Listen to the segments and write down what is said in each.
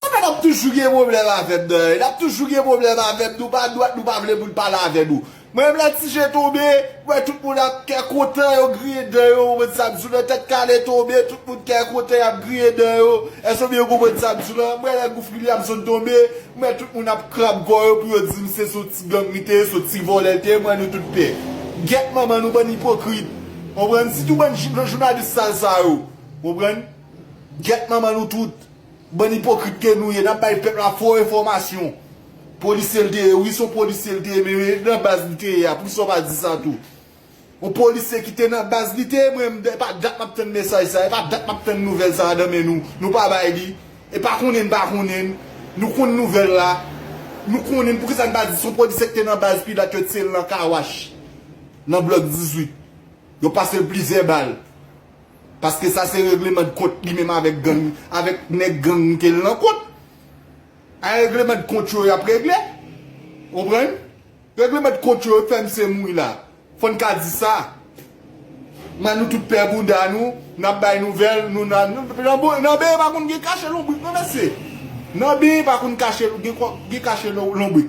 Ou menm wap toujou gen pwoblèm avèm nan hein nap toujou gen pwoblèm avèm nou pa dwat nou pa vle moun pale avè nou mwen menm lè ti je tonbe mwen tout moun ap kè kontan yo griyen dan yo ou konprann sam di w nan tèt kale tonbe tout moun kè kontan yap griyen dan yo èske w byen konprann sam di w la mwen lè gouf Liliane sot tonbe mwen tout moun ap krab kò yo pou yo dim se sou ti gang li te ye sou ti vòlè li te ye mwen nou tout pè gèt manman nou bann ipokrit konprann sitou bann jounalis sal sa yo konprann gèt manman nou tout. Bann ipokrit ke nou ye nap bay pèp la fo enfòmasyon. Polisye l te ye wi son polisye l te ye men nan baz li te ye a poukisa w pa di sa tou. On polisye ki te nan baz li te ye mwen menm epa dat map tann mesaj sa epa dat map tann nouvèl sa nan men nou nou pa bay li epa konnen n pa konnen n nou konn nouvèl la nou konnen n poukisa n pa di son polisye ki te nan baz pilat yo tiye l nan kawach nan blòk 18 yo pase l plizyè bal. Paske sa se regleman de kont li menm avèk gang, avèk nèg gang ke l nan kont. A regleman de kont yo y ap regle. Ou konprann? Regleman de kont yo fè misye mouri la. Fò n ka di sa. M'en nou tout pè bouda nou, n ap bay nouvèl, nou nan Nan beny pa konn gen kache lonbrik non mesye. Nan beny pa konn kache gen kache lonbrik.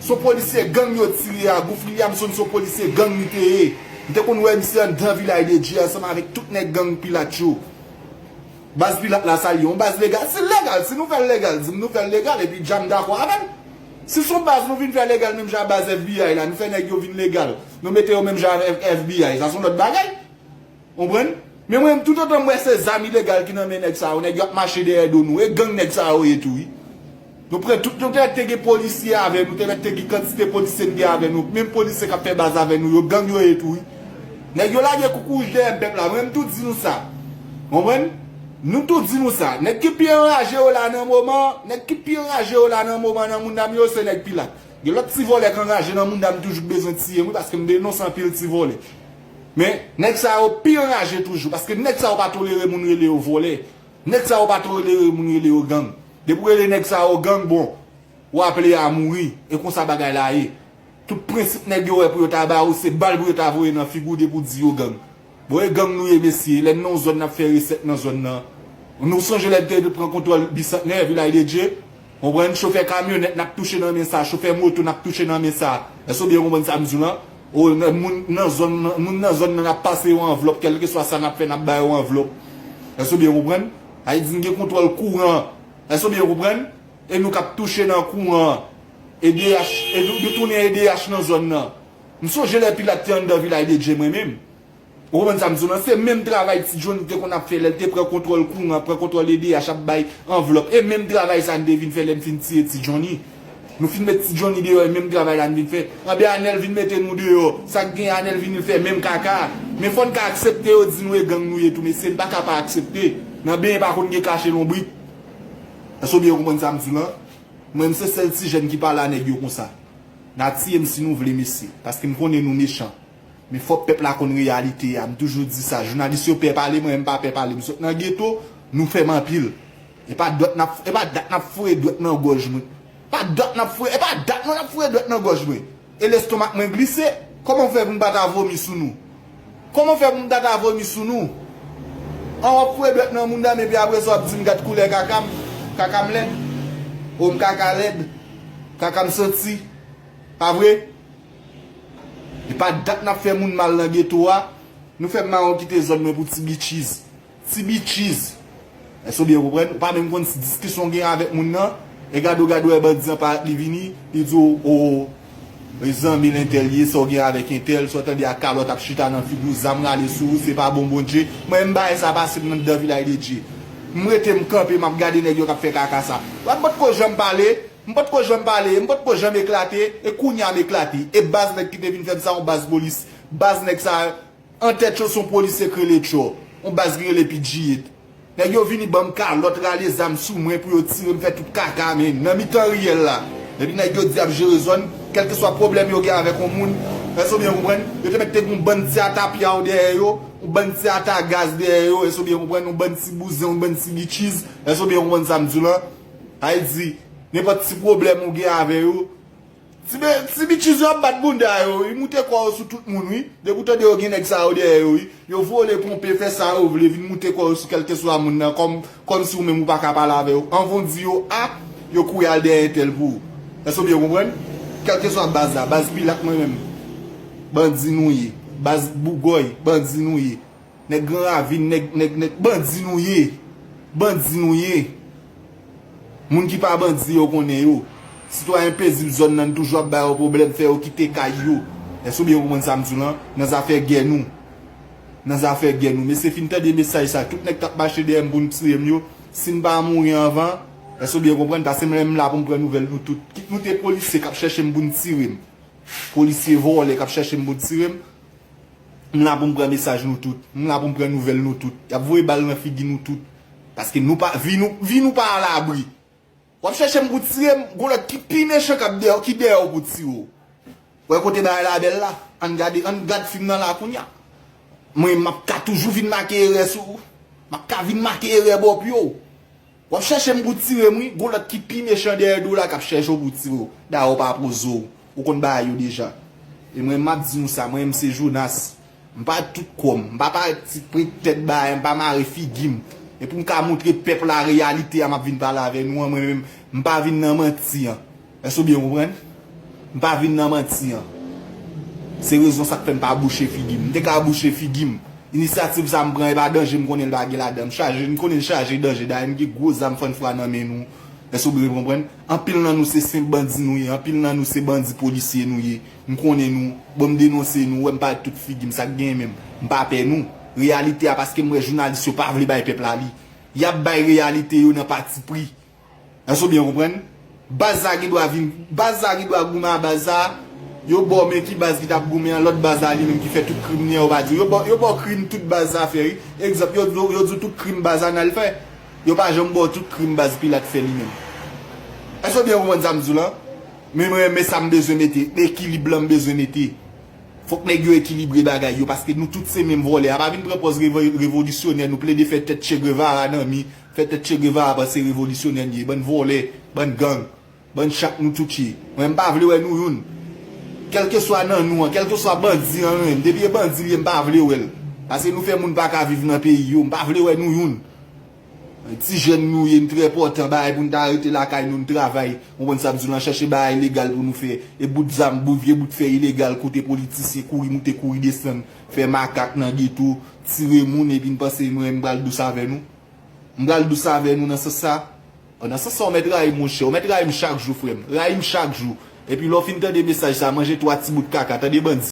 Son polisye gang yo tiye a Gouff Liliamson son polisye gang li te ye m te konn wè misye andan vilay de Dye ansanm avèk tout nèg gang pilat yo baz pilat la sa li ye yon baz legal sil legal si nou fèl legal dim nou fèl legal epi djam dakò avèm si son baz nou vin fè legal menm jan a baz FBI la nou fè nèg yo vin legal nou mete yo menm jan avèk FBI sa son lòt bagay. Konprann? Men mwen menm tout otan m wè se zam ilegal ki nan men nèg sa yo, nèg yo ap mache dèyè do nou, e gang nèg sa yo ye tou wi. Nou pran tout, nou te mèt te gen polisye avè nou, te mèt te gen kantite polisye n gen avè nou, menm polisye k ap fè baz avè nou yo, gang yo ye tou wi. Nèg yo lage koukouy wouj dèyè pèp la, mwen menm tou di nou sa. Konprann? Nou tou di nou sa. Nèg ki pi anraje yo la nan moman an, nèg ki pi anraje yo la nan moman an nan mounda m yo, se nèg Pilat. Gen lòt ti vòlè k anraje nan mounda m toujou k bezwen tiye m wi, paske m denonse anpil ti vòlè. Men, nèg sa yo pi anraje toujou, paske nèg sa yo pa tolere moun rele yo vòlè, nèg sa yo pa tolere moun rele yo gang. Depi ou rele nèg sa yo gang, bon, ou aple a mouri, e konsa bagay la ye. Tout prensip nèg yo wè pou yo ta ba ou, se bal pou yo ta voye nan figi ou depi ou di yo gang. Bon, e gang nou ye mesye, lè n nan yon zòn n ap fè resèt nan zòn nan. Nou sonje lè n te pran kontwòl Bisantnè, Vilay de Dye? Konprann chofè kamyonèt nap touche nan men sa chofè moto nap touche nan men sa èske ou byen konprann sam diw lan ou nan moun nan zòn nan moun nan zòn nan nap pase yo anvlòp kèlkeswa sa nap fè nap ba yo anvlòp èske ou byen konprann sa vle di nou gen kontwòl kouran èske ou byen konprann e nou kap touche nan kouran edh nou tounen edh nan zòn nan m sonje lè pilat te anndan vilaj de dye mwen menm Ou konprann sa m di w lan? Se menm travay Ti John te konn ap fè lè l te pran kontwòl kouran, pran kontwòl edh, ap bay anvlòp. E menm travay sa n te vin fè lè n fin tiye Ti Johny. Nou fin met Ti Johny deyò e menm travay la n vin fè. Anben Anèl vin mete nou deyò. Sa k gen Anèl vini l fè menm kaka a. Men fò n ka aksepte yo di nou e gang nou ye tou mesye. N pa ka pa aksepte. Nan benyen pa konn gen kache lonbrit. Èske w byen konprann sa m di w lan? Mwen m se sèl ti jèn ki pale a nèg yo konsa. N a tiye m si nou vle mesye. Paske m konnen nou mechan. Men fòk pèp la konn reyalite a, m toujou di sa, jounalis yo pè pale mwen menm m pa pè pale, m sot nan geto, nou fè m anpil. E pa dwèt nap e pa dat nap foure dwèt nan gòj mwen. Pa dat nap foure e pa dat non nap foure dwèt nan gòj mwen. E lestomak mwen glise, kòman fè pou m pa ta vomi sou nou? Kòman fè pou m ta ta vomi sou nou? An wap foure dwèt nan mounda m epi apresa wap di m gad koulè kaka m, kaka m lèd? O m kaka lèd, kaka m santi, pa vre? E pa dat nap fè moun mal nan geto a, nou fè mawon kite zòn mwen pou ti bitchiz. Ti bitchiz! Èske w byen konprann? Ou pa menm konn si diskisyon w gen avèk moun nan, e gade w gade wè bandi an parèt li vini, li di w oo, e zanmi l entèl li ye, sa w gen avèk entèl, sa w tande a kalòt ap chita nan figi w, zam rale sou ou, se pa bon Bondje. Mwen menm bagay sa pase m nan dan Vilaydedye. M rete m kanpe map gade nèg yo kap fè kaka sa. Wap pot ko janm pale. M pat ko janm pale e m pat ko janm eklate e kounya m eklate e baz nèg ki te vin fèm sa yon baz polis baz nèg sa antèt yo son polisye k rele tchò yon baz ki rele pidjiyit nèg yo vini banm kalòt rale zam sou mwen pou yo tirem fè tout kaka men nan mitan riyèl la epi nèg yo di yap jere zòn kèlkeswa pwoblèm yo gen avèk yon moun èske w byen konprann yo te mèt te gen yon bann ti ata pyaw dèyè yo yon bann ti ata gaz dèyè yo èske w byen konprann yon bann ti bouzen yon bann ti bitchiz èske w byen konprann sa m di w lan Ay di, nenpòt ti pwoblèm ou gen avè yo, ti bitchiz yo ap bat bounda yo wi, moute kò yo sou tout moun wi, depi ou tande yo gen nèg sa yo dèyè yo wi, yo vole, ponpe, fè sa yo vle, vin moute kò yo sou kèlkeswa moun nan, kòm si ou menm ou pa ka pale avè yo, anvan ou di yo a, yo kouri al dèyè entèl pou ou. Èske ou byen konprann? Kèlkeswa baz la, baz Pilat mwen menm, bandi nou ye, baz Bougòy, bandi nou ye. Nèg gran ravin nèg nèg nèg bandi nou ye bandi nou ye moun ki pa bandi yo konnen yo sitwayen pezib zòn nan n toujou ap ba yo pwoblèm fè yo kite kay yo èske ou byen konprann sa m di w lan nan zafè gè nou nan zafè gè nou mesye fin tande mesaj sa tout nèg k ap mache dèyè m pou n tiye m yo si n pa mouri anvan èske ou byen konprann pase m lè m la pou m pran nouvèl nou tout kit nou te polisye k ap chèche m pou n tire m polisye vòlè k ap chèche m pou n tire m. M la pou m pran mesaj nou tout. M la pou m pran nouvèl nou tout. Y ap voye bal nan figi nou tout. Paske nou pa, vi nou, vi nou pa a labri. W ap chèche m pou w tire m, gon lòt ki pi mechan k ap dèyè w, ki dèyè w pou tire w. Wè kote bagay la bèl la. An n gade, an n gad fim nan la kounya. Mwen, m ap ka toujou vin make erè sou ou. M ap ka vin make erè bòpyo w. Wap chèche m pou w tire m wi, gon lòt ki pi mechan dèyè do w la kap chèche w pou w tire w, dayè w pa poze w, ou konn bagay yo deja. E mwen map di nou sa, mwen m se Jonas, m pa tout kò m, m pa parèt ti prent tèt bae, m pa mare figi m, e pou m ka montre pèp la reyalite a map vin pale avè nou an mwen menm m pa vin nan manti an, Èske ou byen konprann? M pa vin nan manti an. Se rezon sa k fè m pa bouche figi m. M te ka bouche figi m. Inisyativ sa m pran e pa danje m konnen l pa gen ladan. M chaje, m konnen l chaje danje. Dayè m gen gwo zam fann fwa nan men nou. Èske ou byen konprann? Anpil nan nou se senp bandi nou ye. Anpil nan nou se bandi polisye nou ye. M konnen nou. Bon m denonse nou. Ou wè m parèt tout figi m. Sa k genyen menm? M pa pè nou. Reyalite a paske m wè jounalis yo pa vle bay pèp la li. Y ap bay reyalite yo nan patipri. Èske ou byen konprann? Baz la gen dwa vin, baz la gen dwa goumen a baz sa, yo ba w men ki baz ki tap goumen an, lòt baz la li menm ki fè tout krim li an, yo pa di w, yo ba w, yo ba w krim tout baz sa fè wi. Egzanp, yo di w, yo di w tout krim baz Anal fè. Yo pa janm ba w tout krim baz Pilat fè li menm. Èske ou byen konprann sa m di w la? Men mwen men sa m bezwen mete, ekilib la m bezwen mete. Fòk nèg yo ekilibre bagay yo paske nou tout se menm vòlè a. Pa vin pran pòz revolisyonè nou plede fè tèt Che Guevara nan mi. Fè tèt che guevara panse revolisyonè n ye bann vòlè bann gang bann chat nou tout ye mwen m pa vle wè nou youn kèlkeswa nan nou an kèlkeswa bandi an ren depi e bandi l ye m pa vle wè l pase nou fè moun paka viv nan peyi yo m pa vle wè nou youn ti jèn nou ye n trè pòtan bagay pou n ta rete lakay nou n travay konprann sa m di w lan chèche bagay legal pou nou fè e bout zam bout vye bout fè ilegal kote politisyen kouri moute kouri desann Fè makak nan geto, tire moun epi n panse mwen m pral dous avè nou? M pral dous avè nou nan sans sa? Bon nan sans sa w mèt rayi m monchè, w mèt rayi m chak jou frè m, rayi m chak jou, epi lè w fin tande mesaj sa manje 3 ti bout kaka tande bandi.